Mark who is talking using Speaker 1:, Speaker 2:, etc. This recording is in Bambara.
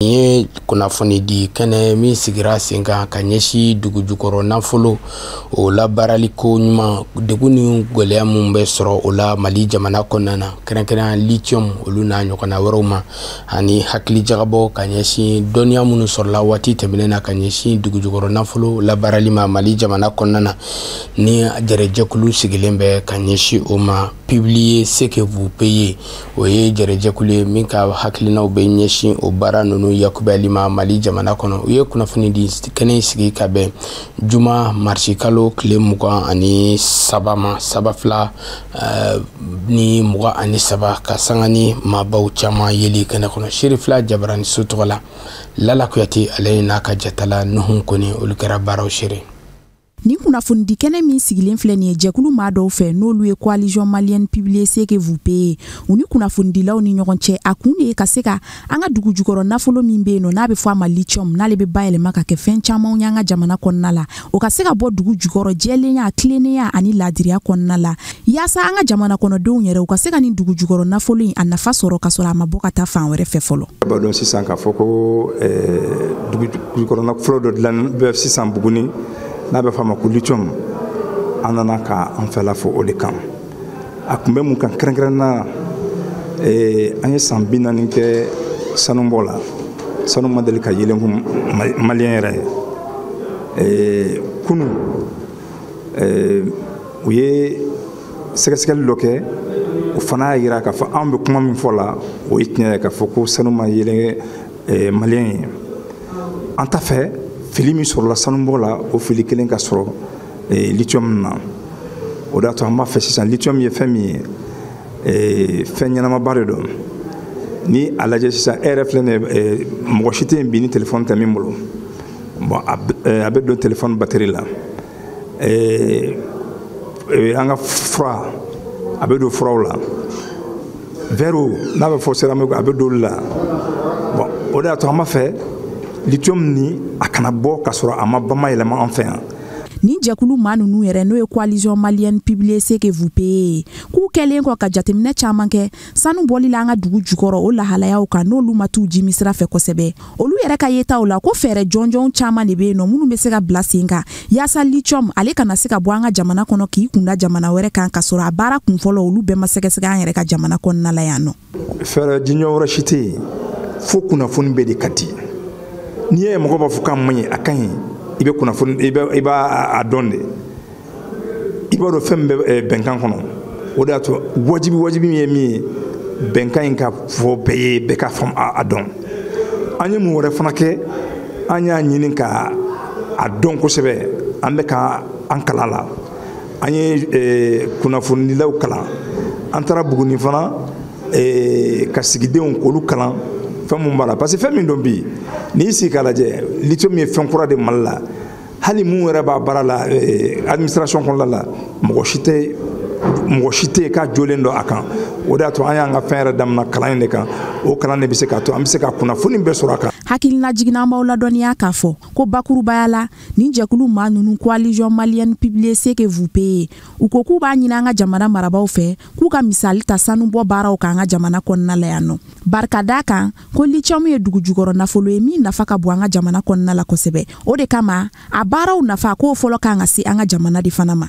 Speaker 1: nin ye kunnafoni di kɛnɛ min sigira sen kan ka ɲɛsin dugujukɔrɔ nafolo o labaarali ko ɲuman degun ni gɛlɛya minnu bɛ sɔrɔ o la mali jamana kɔnɔna na kɛrɛnkɛrɛnya lithium olu n'a ɲɔgɔnna wɛrɛw ma ani hakili jagabɔ ka ɲɛsin dɔnniya minnu sɔrɔla waati tɛmɛnen na ka ɲɛsin dugujukɔrɔ nafolo labaarali ma mali jamana kɔnɔna na ni jɛrɛjɛkulu sigilen bɛ ka ɲɛsin o ma publier ce que vous payez o ye jɛrɛjɛkulu ye min ka hakilinaw bɛ ɲɛsin o baara ninnu yakubali ma mali jamana kɔnɔ u ye kunnafoni di kɛnɛ in sigi ka bɛn juma marisikalo tile mugan ani saba ma san ba fila eh, ni mugan ani saba ka sanga ni maabaw caman yeli kɛnɛ kɔnɔ sherifila jabarani so tɔgɔ la lala kuyate ale n'a ka jatala nuhun kɔnɛ olu kɛra baaraw sere Nin
Speaker 2: kunnafonidi kɛnɛ min sigilen filɛ nin ye jɛkulu maa dɔw fɛ n'olu ye coalition malienne publier ce que vous payez u ni kunnafonidilaw ni ɲɔgɔn cɛ a kun de ye ka se ka an ka dugu jukɔrɔ nafolo min bɛ yen nɔ n'a bɛ fɔ a ma lithium n'ale bɛ bayɛlɛma ka kɛ fɛn camanw y'an ka jamana kɔnɔna la o ka se ka bɔ dugu jukɔrɔ jɛlenya tilennenya ani laadiriya kɔnɔna la Yaasa an ka jamana kɔnɔdenw yɛrɛ u ka se ka nin dugu jukɔrɔ nafolo in a nafa sɔrɔ ka sɔrɔ a ma bɔ ka taa fan wɛrɛ fɛ fɔlɔ. A b'a dɔn sisan k'a
Speaker 3: fɔ ko eh, dugu jukɔrɔ nafolo dɔ dilannen bɛ sisan Buguni n'a bɛ f'a ma ko lithium an nana ka an fɛla fɔ o de kan. A kun bɛ mun kan kɛrɛnkɛrɛnnenya eh, an ye san bi naani kɛ sanubɔ la sanu ma deli ka yeelen kun maliyɛn yɛrɛ ye eh, kunu u ye sɛgɛsɛgɛli dɔ kɛ o fana y'a yira k'a fɔ an bɛ kuma min fɔ la o ye tiɲɛ ye k'a fɔ ko sanu ma yeelen maliyɛn ye an t'a fɛ fili min sɔrɔla sanubɔ la o fili kelen ka sɔrɔ litiyɔmu na o de y'a to an b'a fɛ sisan litiyɔmu ye fɛn min ye fɛn ɲɛnamaba de don ni a lajɛ sisan e yɛrɛ filɛ nin ye mɔgɔ si tɛ yen bi ni telefɔni tɛ min bolo bon a eh, bɛ don telefɔni batiri la eh, eh, an ka fura a bɛ don furaw la vɛriw n'a bɛ fɔ seramikiw a bɛ don olu la bon o de y'a to an b'a fɛ lithium nin a kana bɔ ka sɔrɔ a ma bamayɛlɛma an fɛ yan nin jɛkulu
Speaker 2: maa ninnu yɛrɛ n'o ye coalition malienne publier ce que vous payez k'u kɛlen kɔ ka jateminɛ caman kɛ sanu bɔli la an ka dugu jukɔrɔ o lahalayaw kan n'olu ma t'u jimi sira fɛ kosɛbɛ olu yɛrɛ ka yetaw la ko fɛɛrɛ jɔnjɔn caman de bɛ yen nɔ minnu bɛ se ka bila sen kan yaasa lithium ale kana se ka bɔ an ka jamana kɔnɔ k'i kunda jamana wɛrɛ kan ka sɔrɔ a baara kunfɔlɔ olu bɛɛ ma sɛgɛsɛgɛ an yɛrɛ ka jamana kɔnɔna la yan nɔ fɛɛrɛ
Speaker 3: jɔnjɔn wɛrɛ si tɛ yen fo kunnafoni bɛɛ de ka di n'i ye mɔgɔ b'a fɔ k'a man ɲi a ka ɲi i bɛ kunnafoni i b'a dɔn de i b'a dɔn fɛn min bɛ eh, bɛnkan kɔnɔ o de y'a to wajibi wajibi min ye min ye bɛnkan in ka fɔ bɛɛ ye bɛɛ ka faamu a dɔn an ye mun wɛrɛ fana kɛ an y'a ɲini ka a dɔn kosɛbɛ an bɛ ka an kalan la an ye eh, kunnafonidilaw kalan an taara buguni fana eh, ka sigidenw k'olu kalan fɛn mun b'a la parce que fɛn min don bi n'i sigi k'a lajɛ lithium ye fɛn kura de mali la hali min yɛrɛ b'a baara la eh, administration kɔnɔna la mɔgɔ si tɛ mɔgɔ si tɛ k'a jɛlen dɔn a kan o de y'a to an y'an ka fɛn yɛrɛ damina kalan in de kan o kalan de bɛ se k'a to an bɛ se ka kunnafoni bɛɛ sɔrɔ a kan hakilinajigin na an
Speaker 2: b'aw ladɔnniya k'a fɔ ko bakurubaya la nin jɛkulu maa ninnu coalition malienne publiez ce que vous payez u ko k'u b'a ɲini an ka jamana marabaaw fɛ k'u ka misali ta sanubɔ baaraw kan an ka jamana kɔnɔna la yan nɔ barika d'a kan ko lithium ye dugu jukɔrɔ nafolo ye min nafa ka bon an ka jamana kɔnɔna la kosɛbɛ o de kama a baaraw nafa k'o fɔlɔ kan ka se an ka jamanadenw fana ma